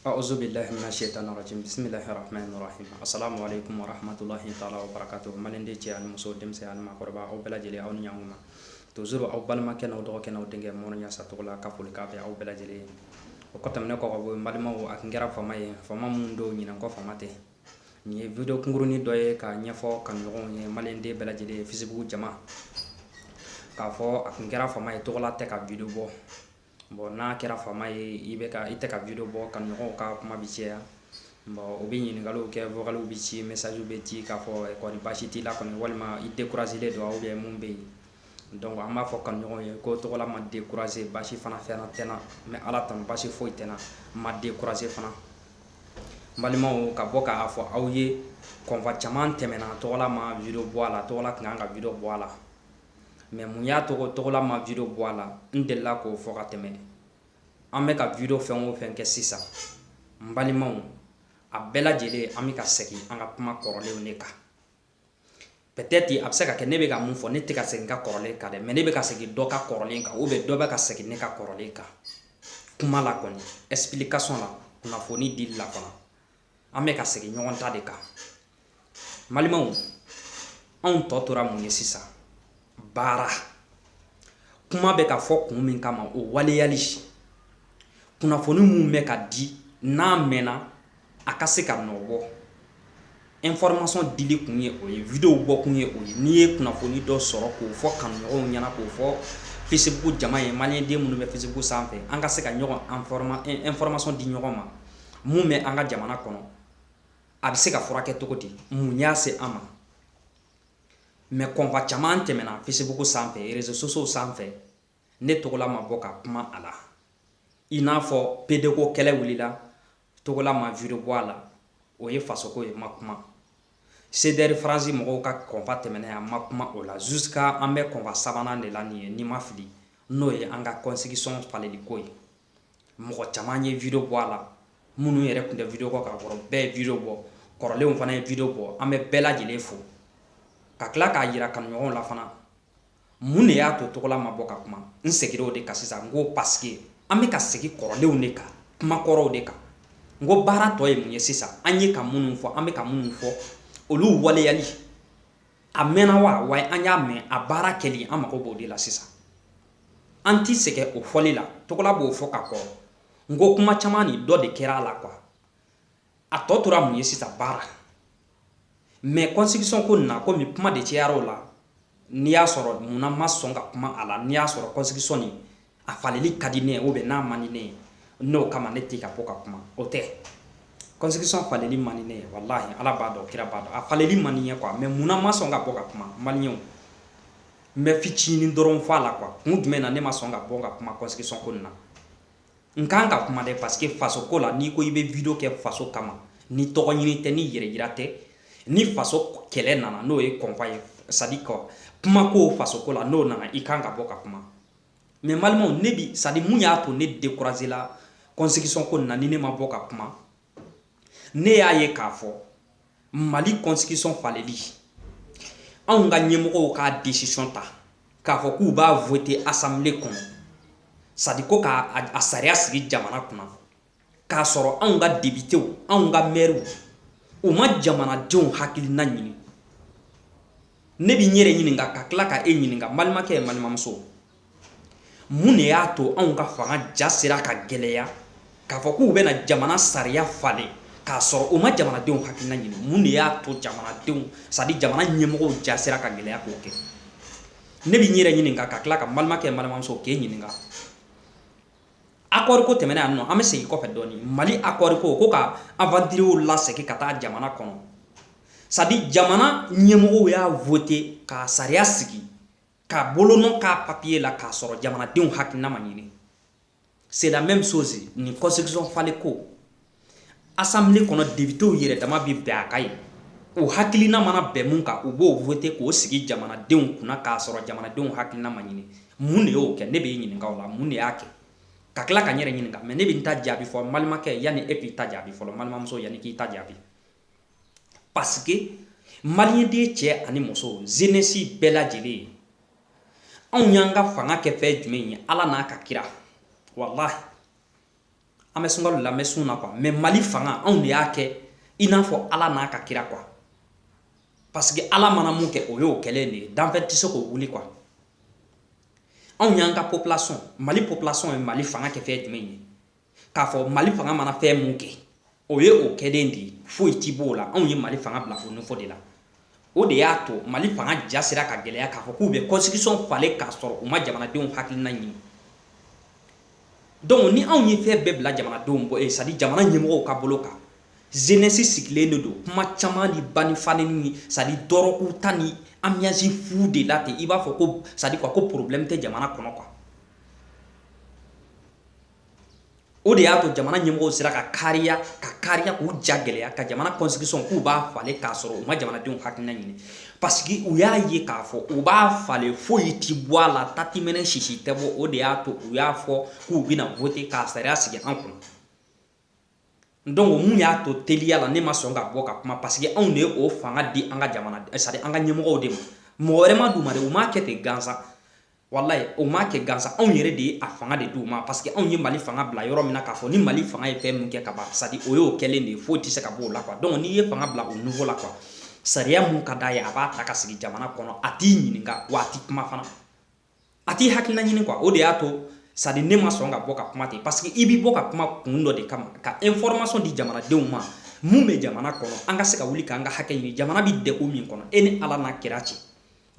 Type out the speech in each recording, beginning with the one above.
Aouzou bilahi mina cheïtani radjimi bisimilahi rahmani rahim assalamu aleykoum wa rahmatoulahhi taala wa barakatoum maliyɛnden cɛ ani muso denmisɛn ani maakɔrɔba aw bɛɛ lajɛlen aw ni ɲankuma toujours aw balimakɛ n'aw dɔgɔkɛ n'aw denkɛ mɔrɔ ɲasa tɔgɔla ka foli k'a bɛ aw bɛɛ lajɛlen o kɔ tɛmɛnen kɔ ka bɔ yen balimaw a tun kɛra fama ye fama min don ɲinan kɔ fama tɛ nin ye video kunkurunin dɔ ye k'a ɲɛfɔ kanuɲɔgɔnw ye maliyɛnden bɛɛ lajɛlen ye Facebook jama k'a fɔ a tun kɛra fama ye tɔgɔla tɛ ka video bɔ Bon n'a kɛra fama ye i bɛ i tɛ ka video bɔ kanuɲɔgɔn ka kuma bi cɛya u bɛ ɲininkaliw kɛ vocalw bɛ ci messagew bɛ ci k'a fɔ kori basi t'i la kɔni walima i décourager-len don ou bien mun bɛ yen donc an b'a fɔ kanuɲɔgɔn ye ko tɔgɔla ma décourager basi fana fɛn tɛ n na mais ala tanu basi foyi tɛ n na n ma décourager fana balimaw ka bɔ k'a fɔ aw ye kɔnfa caman tɛmɛna tɔgɔla ma video bɔ a la tɔgɔla tun kan ka video bɔ a la mais mun y'a to tɔgɔla ma video bɔ a la n delila k'o fɔ ka tɛmɛ an bɛ ka video fɛn o fɛn kɛ sisan n balimaw a bɛɛ lajɛlen an bɛ ka segin an ka kuma kɔrɔlenw de kan peut-être a bɛ se ka kɛ ne bɛ ka mun fɔ ne tɛ ka segin ka kɔrɔlen kan dɛ mais ne bɛ ka segin dɔ ka kɔrɔlen kan ou bien dɔ bɛ ka segin ne ka kɔrɔlen kan kuma la kɔni explication la kunnafoni dili la fana an bɛ ka segin ɲɔgɔn ta de kan balimaw anw tɔ tora mun ye sisan baara kuma bɛ ka fɔ kun min kama o waleyali kunnafoni min bɛ ka di n'a mɛnna a ka se ka nɔbɔ information dili kun ye o ye video bɔ kun ye o ye n'i ye kunnafoni dɔ sɔrɔ k'o fɔ kanuɲɔgɔnw ɲɛna k'o fɔ Facebook jama ye maliyɛnden minnu bɛ Facebook sanfɛ an ka se ka ɲɔgɔn information di ɲɔgɔn ma mun bɛ an ka jamana kɔnɔ a bɛ se ka furakɛ cogo di mun y'a se an ma mais kɔnfa caman tɛmɛna Facebook sanfɛ réseaux sociaux sanfɛ ne tɔgɔla ma bɔ ka kuma a la i n'a fɔ pede ko kɛlɛ wulila tɔgɔla ma video bɔ a la o ye fasoko ye ma kuma CDR France mɔgɔw ka kɔnfa tɛmɛna a ma kuma o la jusqu'à an bɛ kɔnfa sabanan de la nin ye ni n ma fili n'o ye an ka constitution faleli ko ye mɔgɔ caman ye video bɔ a la minnu yɛrɛ tun tɛ video bɔ ka kɔrɔ bɛɛ ye video bɔ kɔrɔlenw fana ye video bɔ an bɛ bɛɛ lajɛlen fo ka tila k'a yira kanuɲɔgɔnw la fana mun de y'a to tɔgɔla ma bɔ ka kuma n segira o de kan sisan n ko parce que an bɛ ka segin kɔrɔlenw de kan kuma kɔrɔw de kan n ko baara tɔ ye mun ye sisan an ye ka minnu fɔ an bɛ ka minnu fɔ olu waleyali a mɛnna wa wa an y'a mɛn a baara kɛli an mago b'o de la sisan an tɛ sɛgɛn o fɔli la tɔgɔla b'o fɔ ka kɔrɔ n ko kuma caman ni dɔ de kɛra a la quoi a tɔ tora mun ye sisan baara mais constitution ko na komi kuma de cɛyara o la n'i y'a sɔrɔ munna ma sɔn ka kuma a la n'i y'a sɔrɔ constitution nin a faleli ka di ne ye ou bien n'a man di ne ye n'o kama ne tɛ ka bɔ ka kuma o tɛ kɔnsigisɔn faleli man di ne ye walahi ala b'a dɔn kira b'a dɔn a faleli man di n ye kuwa mɛ munna ma sɔn ka bɔ ka kuma maliyɛnw n bɛ fitinin dɔrɔn fɔ a la kuwa kun jumɛn na ne ma sɔn ka bɔ ka kuma kɔnsigisɔn ko na n ka kan ka kuma dɛ parce que faso ko la n'i ko i bɛ video kɛ faso kama ni tɔgɔ ɲini tɛ ni yɛrɛ yira tɛ ni faso kɛlɛ nana n'o ye kɔnba ye sadi ko kuma ko faso ko la n'o nana i kan ka bɔ ka kuma mɛ balimaw ne bi sadi mun y'a to ne dekurazela kɔnsigisɔn ko na ni ne ma bɔ ka kuma ne y'a ye k'a fɔ mali kɔnsigisɔn faleli anw ka ɲɛmɔgɔw ka desisɔn ta k'a fɔ k'u b'a vote asanbile kɔnɔ sadi ko k'a sariya sigi jamana kunna k'a sɔrɔ anw ka depitew anw ka mɛriw u ma jamanadenw hakilina ɲini ne bɛ n yɛrɛ ɲininka ka tila ka e ɲininka balimakɛ ye balimamuso mun de y'a to anw ka fanga ja sera ka gɛlɛya k'a fɔ k'u bɛna jamana sariya falen k'a sɔrɔ u ma jamanadenw hakilina ɲini mun de y'a to jamanadenw sadi jamana ɲɛmɔgɔw ja sera ka gɛlɛya k'o kɛ ne bɛ n yɛrɛ ɲininka ka tila ka balimakɛ balimamuso k'e ɲininka Akɔri ko tɛmɛna yan nɔ an bɛ segin kɔfɛ dɔɔnin mali akɔri ko ko ka avantiriyew lasegin ka taa jamana kɔnɔ sadi jamana ɲɛmɔgɔw y'a vote ka sariya sigi ka bolonɔ k'a papiye la k'a sɔrɔ jamanadenw hakilina ma ɲini c'est la même chose ni kɔnsigisɔn falenli ko asanbile kɔnɔ depitew yɛrɛ dama bɛ bɛn a kan yen u hakilina mana bɛn min kan u b'o vote k'o sigi jamanadenw kunna k'a sɔrɔ jamanadenw hakilina ma ɲini mun de y'o kɛ ne bɛ ɲininka k'aw la mun de y'a kɛ ka tila ka n yɛrɛ ɲininka mɛ ne bɛ n ta jaabi fɔ balimakɛ yanni e k'i ta jaabi fɔlɔ balimamuso yanni k'i ta jaabi parce que maliden cɛ ani muso zenesi bɛɛ lajɛlen ye anw y'an ka fanga kɛ fɛn jumɛn ye ala n'a ka kira wala an bɛ sunkalo la an bɛ sun na kuwa mɛ mali fanga anw de y'a kɛ i n'a fɔ ala n'a ka kira kuwa parce que ala mana mun kɛ o y'o kɛlen de ye danfɛn tɛ se k'o wuli kuwa anw y'an ka popilasɔn mali popilasɔn ye mali fanga kɛ fɛn jumɛn ye k'a fɔ mali fanga mana fɛn mun kɛ o ye o kɛlen de ye foyi ti b'o la anw ye mali fanga bila o nivo de la o de y'a to mali fanga ja sera ka gɛlɛya k'a fɔ k'u bɛ kɔnsigisɔn falen k'a sɔrɔ u ma jamanadenw hakilina ɲini dɔnku ni anw ye fɛn bɛɛ bila jamanadenw bɔ eh, sadi jamana ɲɛmɔgɔw ka bolo kan zenɛsi sigilen de don kuma caman ni ba ni fa neni ni sadi dɔrɔgu ta ni anbiyansi fu de la ten i b'a fɔ ko sadi kuwa ko porobilɛmu tɛ jamana kɔnɔ kuwa o de y'a to jamana ɲɛmɔgɔw sera ka kariya k'u ja gɛlɛya ka jamana constitution k'u b'a falen k'a sɔrɔ u ma jamanadenw hakilina ɲini parce que u y'a ye k'a fɔ u b'a falen foyi ti bɔ a la tatimɛnɛ sisi tɛ bɔ o de y'a to u y'a fɔ k'u bɛna voter k'a sariya sigi an kunna donc mun y'a to teliya la ne ma sɔn ka bɔ ka kuma parce que anw de ye o fanga di an ka jamana c'est à dire an ka ɲɛmɔgɔw de ma mɔgɔ wɛrɛ ma d'u ma dɛ u m'a kɛ ten gansan walahi o ma kɛ gansan anw yɛrɛ de ye a fanga de d'u ma parce que anw ye mali fanga bila yɔrɔ min na k'a fɔ ni mali fanga ye fɛn min kɛ ka ban c'est à dire o y'o kɛlen de ye foyi tɛ se ka bɔ o la quoi donc n'i ye fanga bila o niveau la quoi sariya min ka d'a ye a b'a ta ka sigi jamana kɔnɔ a t'i ɲininka wa a t'i kuma fana a t'i hakilina ɲini quoi o de y'a to c'est à dire ne ma sɔn ka bɔ ka kuma ten parce que i bɛ bɔ ka kuma kun dɔ de kama ka information di jamanadenw ma minnu bɛ jamana kɔnɔ an ka se ka wuli k'an ka hakɛ ɲini jamana bɛ degun min kɔnɔ e ni ala n'a kira cɛ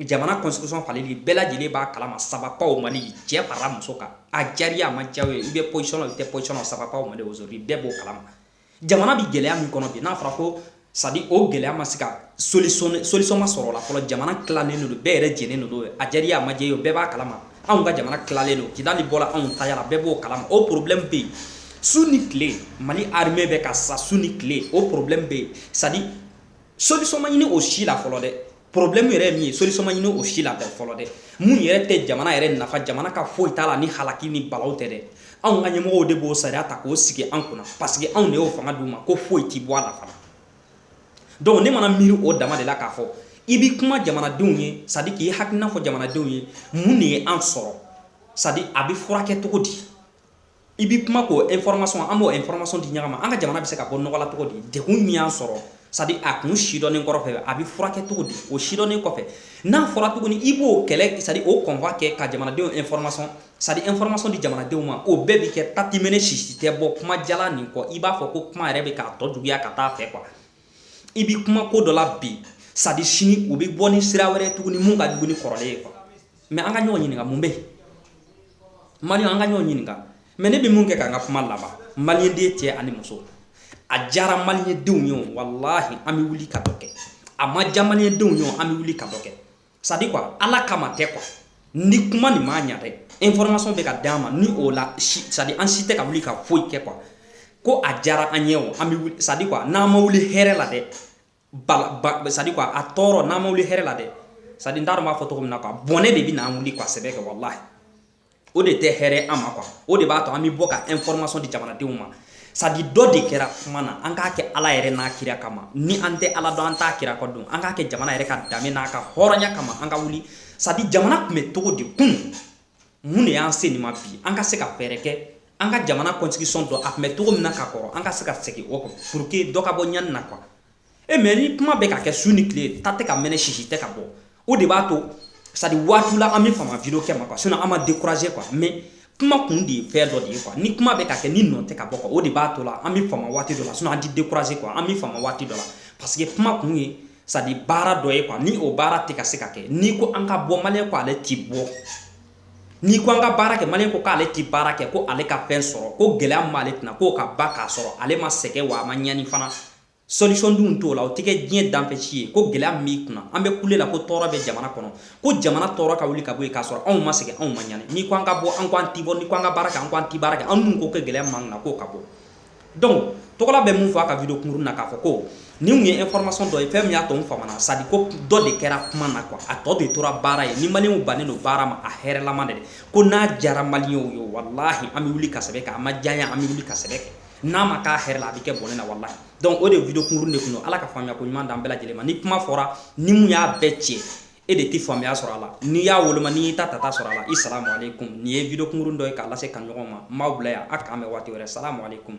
jamana constitution faleli bɛɛ lajɛlen b'a kalama ça va pas au mali cɛ farala muso kan a diyar'i ye a ma diya i ye i bɛ position i tɛ position ça va pas au mali aujourd'hui bɛɛ b'o kalama jamana bi gɛlɛya min kɔnɔ bi n'a fɔra ko c'est à dire o gɛlɛya ma se ka solution solution ma sɔrɔ o la fɔlɔ jamana tilalen don bɛɛ yɛrɛ jɛnen don a diyar'i ye a ma diya i ye bɛɛ b'a kalama anw ka jamana tilalen don kidali bɔra anw tayara bɛɛ b'o kalama o problème bɛ yen su ni tile mali armée bɛ ka sa su ni tile o problème bɛ yen c'est à dire solution ma ɲini o si la fɔlɔ dɛ problème yɛrɛ ye min ye solution ma ɲini o si la fɔlɔ dɛ mun yɛrɛ tɛ jamana yɛrɛ nafa jamana ka foyi t'a la ni halaki ni balawu tɛ dɛ anw ka ɲɛmɔgɔw de b'o sariya ta k'o sigi an kunna parce que anw de y'o fanga d'u ma ko foyi ti bɔ a la fana donc ne mana miiri o dama de la k'a fɔ i bi kuma jamanadenw ye c'est à dire k'i hakilina fɔ jamanadenw ye mun de ye an sɔrɔ c'est à dire a bɛ furakɛ cogo di i bi kuma k'o information an b'o information di ɲɔgɔn ma an ka jamana bɛ se ka bɔ nɔgɔ la cogo di degun min y'an sɔrɔ c'est à dire a kun sidɔnnen kɔrɔfɛ a bɛ furakɛ cogo di o sidɔnnen kɔfɛ n'a fɔra tuguni i b'o kɛlɛ c'est à dire o combat kɛ ka jamanadenw information c'est à dire information di jamanadenw ma o bɛɛ bɛ kɛ tatimɛnɛ sisi tɛ bɔ kuma jalan nin kɔ i b'a fɔ ko kuma yɛrɛ bɛ k'a tɔ juguya ka taa fɛ quoi i bɛ kuma ko dɔ la bi c'est à dire sini u bɛ bɔ ni sira wɛrɛ tuguni mun ka jugu ni kɔrɔlen ye quoi mais an ka ɲɔgɔn ɲininka mun bɛ mali an ka ɲɔgɔn ɲininka mais ne bɛ mun kɛ k'an ka kuma laban maliden cɛ ani muso a diyara malidenw ye walahi an bɛ wuli ka dɔ kɛ a ma diya malidenw ye an bɛ wuli ka dɔ kɛ c'est à dire quoi ala kama tɛ quoi ni kuma nin ma ɲɛ dɛ information bɛ ka di an ma ni o la c'est à dire an si tɛ ka wuli ka foyi kɛ quoi ko a diyara an ye o an bɛ c'est à dire quoi n'an ma wuli hɛrɛ la dɛ c'est à dire quoi a tɔɔrɔ n'an ma wuli hɛrɛ la dɛ c'est à dire n t'a dɔn n b'a fɔ cogo min na quoi bɔnɛ de bɛ n'an wuli ka sɛbɛ kɛ walahi o de tɛ hɛrɛ an ma quoi o de b'a to an bɛ bɔ ka information di jamanadenw ma c'est à dire dɔ de kɛra kuma na an k'a kɛ ala yɛrɛ n'a kira kama ni an tɛ ala dɔn an t'a kira ko dɔn an k'a kɛ jamana yɛrɛ ka danbe n'a ka hɔrɔnya kama an ka wuli c'est à dire jamana tun bɛ cogo di kun mun de y'an se nin ma bi an ka se ka fɛɛrɛ kɛ an ka jamana constitution dɔn a tun bɛ cogo min na ka kɔrɔ an ka se ka segin o kɔ pour que dɔ ka bɔ ɲani na quoi e mais ni kuma bɛ ka kɛ su ni tile ta tɛ ka mɛnɛ sisi tɛ ka bɔ o de b'a to c'est à dire waati la an bɛ fama video kɛ ma quoi sinon an ma décourager quoi mais kuma kun de ye fɛn dɔ de ye quoi ni kuma bɛ ka kɛ ni nɔ tɛ ka bɔ quoi o de b'a to la an bɛ fama waati dɔ la sinon an ti décourager quoi an bɛ fama waati dɔ la parce que kuma kun ye c'est à dire baara dɔ ye quoi ni o baara tɛ ka se ka kɛ n'i ko an ka bɔ maliyɛn ko ale ti bɔ n'i ko an ka baara kɛ maliyɛn ko k'ale ti baara kɛ ko ale ka fɛn sɔrɔ ko gɛlɛya min b'ale kunna k'o ka ban k'a sɔrɔ ale ma sɛgɛn wa a ma ɲani fana solution dun t'o la o tɛ kɛ diɲɛ danfɛn si ye ko gɛlɛya min kunna an bɛ kule la ko tɔɔrɔ bɛ jamana kɔnɔ ko jamana tɔɔrɔ ka wuli ka bɔ yen k'a sɔrɔ anw ma sɛgɛn anw ma ɲani n'i ko an ka bɔ an ko an ti bɔ n'i ko an ka baara kɛ an ko an ti baara kɛ an dun ko kɛ gɛlɛya min b'an kunna k'o ka bɔ donc tɔgɔla bɛ mun fɔ a ka video kunkurun na k'a fɔ ko nin tun ye information dɔ ye fɛn min y'a to n famana c'est à dire ko dɔ de kɛra kuma na quoi a tɔ de tora baara ye ni maliyɛnw bannen don baara ma a hɛrɛlama de ko n'a diyara maliyɛnw ye walahi an bɛ wuli ka sɛbɛ kɛ a ma diya an bɛ wuli ka sɛbɛ kɛ n'a ma k'a hɛrɛ la a bɛ kɛ bɔnɛ na walahi donc o de video kunkurun de kun don ala ka faamuya ko ɲuman d'an bɛɛ lajɛlen ma ni kuma fɔra ni min y'a bɛɛ cɛ e de tɛ faamuya sɔrɔ a la n'i y'a woloma n'i y'i ta tata sɔrɔ a la i salamu aleykum nin ye video kunkurun dɔ ye k'a lase kanuɲɔgɔn ma n b'aw bila yan a k'an bɛn waati wɛrɛ salamu aleykum